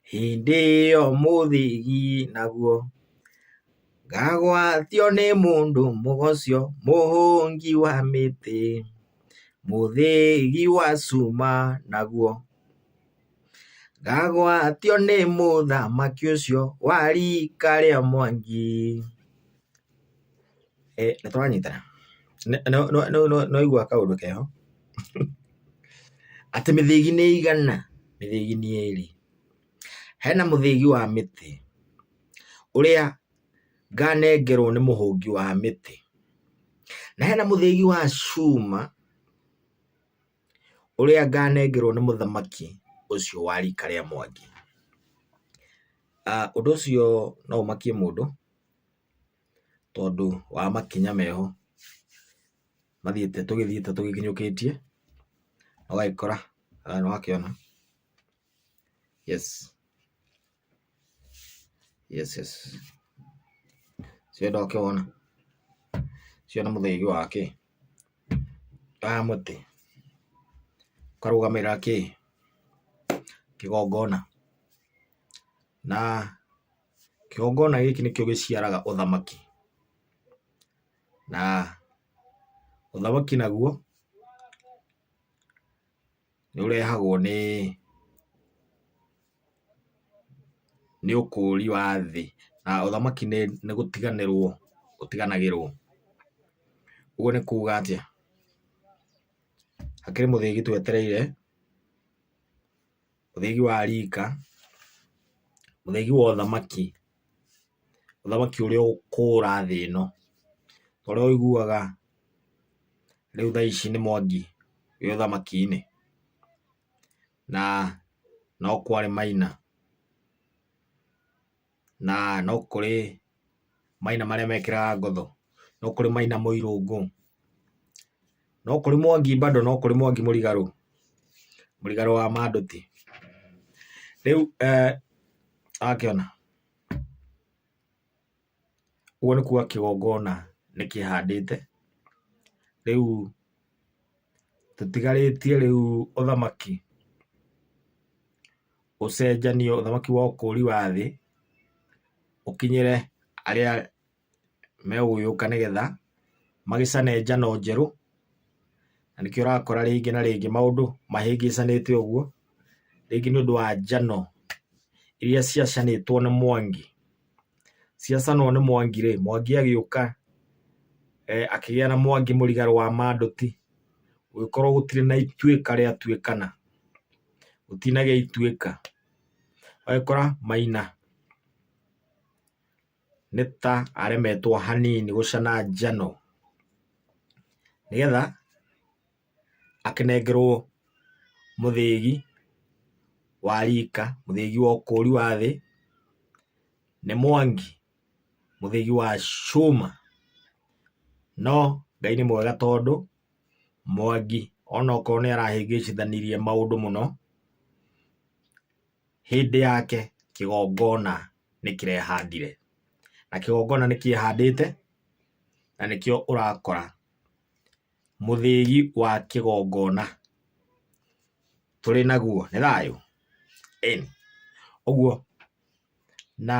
Hĩndĩ ĩyo mũthĩgi naguo, ngagwatio nĩ mũndũ mũgoco, mũhũngi wa mĩtĩ, mũthĩgi wa cuma naguo. Ngagwatio nĩ mũthamaki ũcio wa rika rĩa Mwangi. Ĩ nĩ tũranyitana? Nĩ waigua kaũndũ keho? Atĩ mĩthĩgi nĩ igana? Mĩthĩgi nĩ ĩrĩ. Hena mũthĩgi wa mĩtĩ ũrĩa nganengerwo nĩ mũhũngi wa mĩtĩ, na hena mũthĩgi wa cuma ũrĩa nganengerwo nĩ mũthamaki ũcio wa rika rĩa Mwangi. Ũndũ ũcio no ũmakie mũndũ, tondũ wa makinya meho mathiĩte tũgĩthiĩte tũgĩkinyũkĩtie, ũgagĩkora haha nĩ wakĩona, yes yes yes ũcio nĩ wakĩwona? ũcio nĩ mũthaiga wa kĩ? wa mũtĩ ũkarũgamĩrĩra kĩ? kĩgongona na... Kĩgongona gĩkĩ nĩkĩo gĩciaraga ũthamaki, na ũthamaki naguo nĩ ũrehagwo nĩ nĩ ũkũũri wa thĩ, na ũthamaki nĩ gũtiganĩrwo ũtiganagĩrwo. Ũguo nĩ kuuga atĩa? Hakĩrĩ mũthĩgi twetereire. ũthegi wa rika, ũthegi wa ũthamaki, ũthamaki ũrĩa ũkũra thĩ ĩno, ta ũrĩa ũiguaga rĩu thaa ici nĩ Mwangi wĩ ũthamaki-inĩ, na no kwarĩ Maina. na no kũrĩ maina marĩa mekĩraga ngotho, no kũrĩ maina mũirũngũ, no kũrĩ mwangi bado, no kũrĩ mwangi mũrigarũ, mũrigarũ wa mandũti. Rĩu eeh wakĩona, ũguo nĩ kuga kĩgongona nĩ kĩhandĩte, rĩu tũtigarĩtie rĩu ũthamaki. ũcenjanio, ũthamaki wa ũkũũri wa thĩ ũkinyĩre arĩa megũgĩũka nĩ getha magĩcane njano njerũ. Na nĩkĩo ũrakora rĩngĩ na rĩngĩ maũndũ mahĩngĩcanĩte ũguo, rĩngĩ nĩ ũndũ wa njano iria ciacanĩtwo nĩ Mwangi. Ciacanwo nĩ Mwangi rĩ, Mwangi agĩũka akĩgĩa na Mwangi Mũrigarũ wa Mandũti, gũgĩkorwo gũtirĩ na Ituĩka rĩa Tuĩkana. ũtinage ituĩka. Ũgagĩkora Maina nĩ ta aremetwo hanini gũcana njano nĩgetha akĩnengerwo mũthĩgi wa rika, mũthĩgi wa ũkũri wa thĩ nĩ Mwangi, mũthĩgi wa cuma. No Ngai nĩ mwega tondũ... Mwangi onokorwo nĩ arahĩngĩcithanirie maũndũ mũno, hĩndĩ yake kĩgongona nĩ kĩrehandire. Na kĩgongona nĩ kĩehandĩte, na nĩkĩo ũrakora mũthĩgi wa kĩgongona tũrĩ naguo. Nĩ thayũ? Ĩni. Ũguo, na...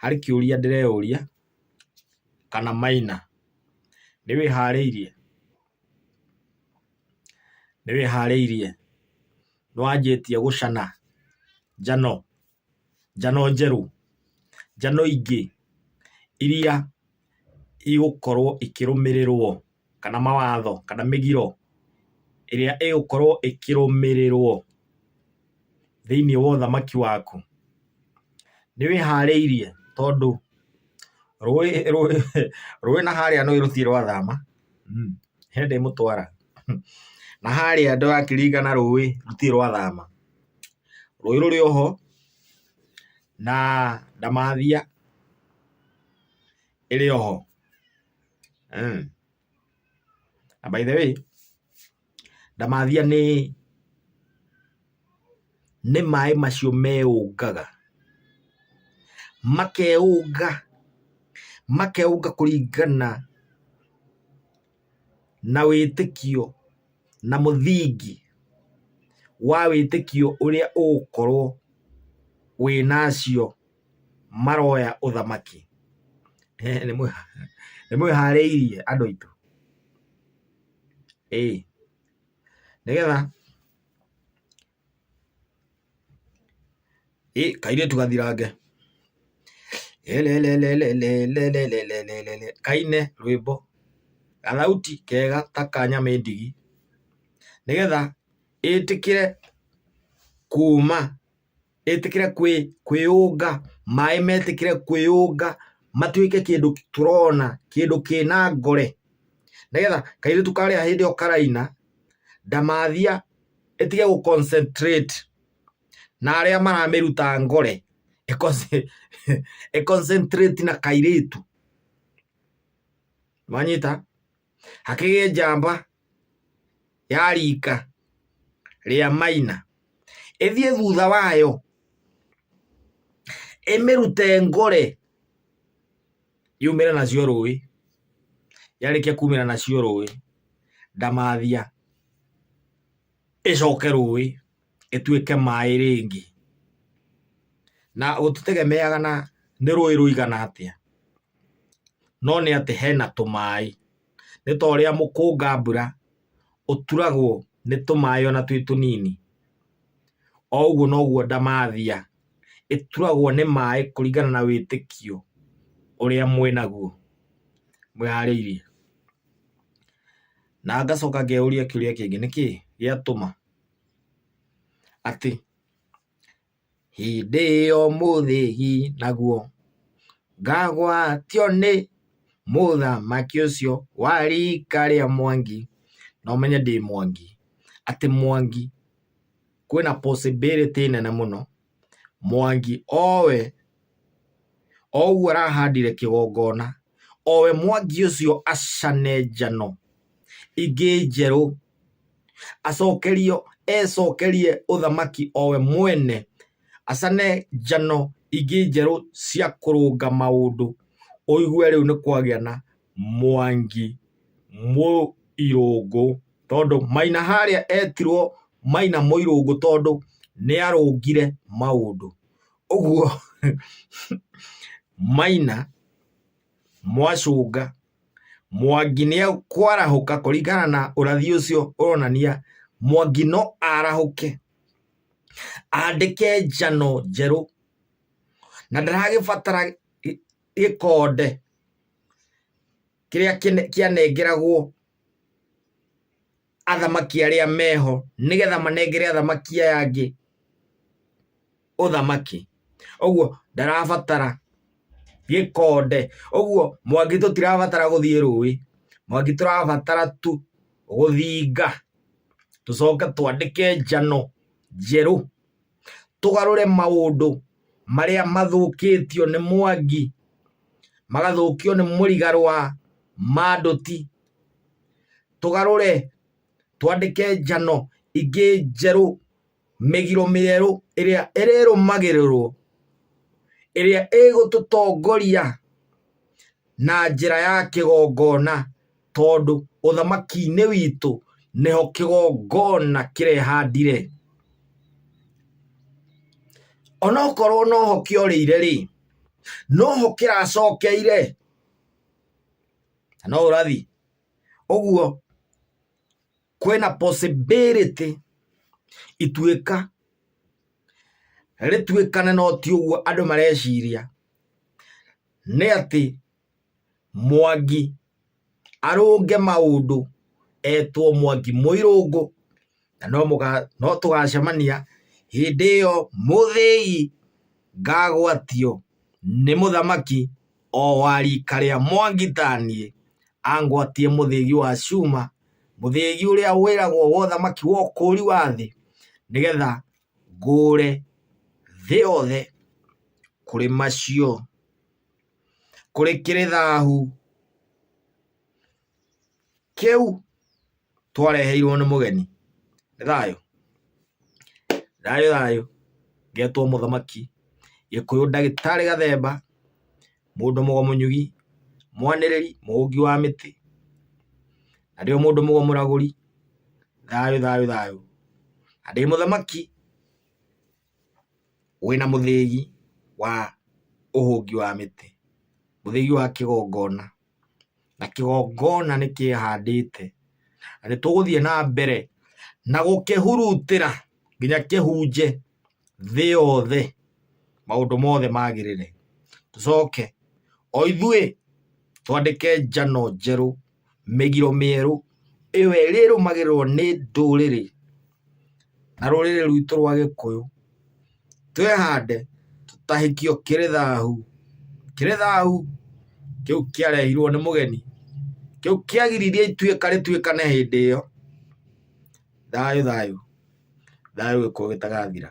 Harĩ kĩũria ndĩreyũria kana Maina nĩwĩharĩirie? Nĩwĩharĩirie? Nĩwanjĩtie gũcana njano, njano njerũ, njano ingĩ iria. igũkorwo ikĩrũmĩrĩrwo kana mawatho kana mĩgiro ĩrĩa ĩgũkorwo ĩkĩrũmĩrĩrwo thĩiniĩ wa ũthamaki waku? Nĩwĩharĩirie tondũ rũĩ na harĩa nĩũĩ rũtirĩ rwathama he ndĩmũtwara na harĩa ndĩrakĩringa na rũĩ rũtirĩ rwathama. Rũĩ rũrĩ oho na ndamathia. ĩrĩ oho mm. na by the way ndamathia nĩ nĩ maĩ macio meũngaga makeũnga makeũnga kũringana na wĩtĩkio na mũthingi wa wĩtĩkio ũrĩa ũgũkorwo wĩnacio maroya ũthamaki. Nĩ mwĩharĩirie andũ aitũ? Ĩĩ. Nĩgetha ĩ kairĩtu gathirange elelelelelelelelelele kaine rwĩmbo gathauti kega ta ka nyamĩndigi nĩgetha ĩtĩkĩre kuma ĩtĩkĩre kwĩ, kwĩyũnga, maĩ metĩkĩre kwĩyũnga matuĩke kĩndũ tũrona, kĩndũ kĩna ngore. Nĩgetha kairĩtu karĩa hĩndĩ ĩyo karaina, ndamathia ĩtige gũ concentrate na arĩa maramĩruta ngore, ĩ concentrate na kairĩtu. Nĩwanyita? hakĩgĩe njamba ya rika rĩa maina ĩthiĩ thutha wayo ĩmĩrute ngore yumĩre nacio rũĩ yarĩkia kumĩra nacio rũĩ ndamathia ĩcoke rũĩ ĩtuĩke maĩ rĩngĩ. Na gũtitegemeaga na nĩ rũĩ rũigana atĩa, no nĩ atĩ hena tũmaĩ. Nĩ ta ũrĩa mũkũnga mbura ũturagwo nĩ tũmaĩ ona twĩ tũnini, o ũguo noguo ndamathia ĩturagwo nĩ maĩ kũringana na wĩtĩkio ũrĩa mwĩnaguo, mwĩharĩirie. Na ngacoka ngeyũria kĩũria kĩngĩ, nĩkĩ gĩatũma? atĩ, Hĩndĩ ĩyo mũthĩ hi naguo, ngagwatio nĩ mũthamaki ũcio wa riika rĩa Mwangi, na ũmenye ndĩ Mwangi, atĩ Mwangi kwĩna possibility nene mũno Mwangi owe oguo arahandire kĩgongona owe Mwangi ũcio acane njano ingĩ njerũ acokerio ecokerie ũthamaki owe mwene acane njano ingĩ njerũ cia kũrũnga maũndũ ũigue rĩu nĩ kwagĩa na Mwangi, Mũirũngũ, tondũ Maina harĩa etirwo Maina Mũirũngũ tondũ nĩarũngire maũndũ. Ũguo Maina, Mwacũnga, Mwangi nĩekwarahũka kũringana na ũrathi ũcio ũronania Mwangi no arahũke andĩke njano njerũ na ndaragĩbatara gĩkonde kĩrĩa kĩanengeragwo athamaki arĩa meho nĩgetha manengere athamaki aya angĩ ũthamaki ũguo ndarabatara gĩkonde ũguo mwangi tũtirabatara gũthiĩ rũĩ mwangi tũrabatara tu gũthinga tũcoke twandĩke njano njerũ tũgarũre maũndũ marĩa mathũkĩtio nĩ mwangi magathũkio nĩ mũrigaro wa mandũti tũgarũre twandĩke njano ingĩ njerũ mĩgiro mĩerũ ĩrĩa ĩrĩrũmagĩrĩrwo ĩrĩa ĩgũtũtongoria. na njĩra ya kĩgongona, tondũ ũthamaki-inĩ witũ nĩho kĩgongona kĩrehandire. Onokorwo noho kĩorĩire rĩ, noho kĩracokeire, na no ũrathi. Ũguo kwĩna possibility ituĩka rĩtuĩkane no ti ũguo andũ mareciria, nĩ atĩ Mwangi arũnge maũndũ etwo Mwangi Mũirũngũ na no tũgacemania hĩndĩ ĩyo mũthĩi ngagwatio nĩ mũthamaki o wa rika rĩa Mwangi ta niĩ angwatie mũthĩgi wa cuma, mũthĩgi ũrĩa wĩragwo wa ũthamaki wa ũkũri wa thĩ nĩgetha ngũũre thĩ yothe kũrĩ macio, kũrĩ kĩrĩ thaahu kĩu twareheirwo nĩ mũgeni. Nĩ thayũ? Thayũ thayũ. Ngetwo mũthamaki gĩkũyũ ndagĩtarĩ Gathemba, mũndũ mũgomũnyũgi, mwanĩrĩri, mũhũngi wa mĩtĩ, na ndĩ o mũndũ mũgomũragũri, thayũ, thayũ, thayũ, na ndĩ mũthamaki wĩna mũthĩgi wa ũhũngi wa mĩtĩ, mũthĩgi wa kĩgongona, na kĩgongona nĩkĩhandĩte, na nĩtũgũthiĩ na mbere na gũkĩhurutĩra nginya kĩhunje. thĩ yothe maũndũ mothe magĩrĩre, tũcoke o ithuĩ twandĩke njano njerũ, mĩgiro mĩerũ, ĩyo ĩrĩrũmagĩrĩrwo nĩ ndũrĩrĩ na rũrĩrĩ rwitũ rwa gĩkũyũ, twĩhande tũtahĩkio kĩrĩ thahu, kĩrĩ thahu kĩu kĩarehirwo nĩ mũgeni, kĩu kĩagiririe ituĩka rĩtuĩkane hĩndĩ ĩyo. Thayũ thayũ. Thayũ gĩkuũ gĩtagathira.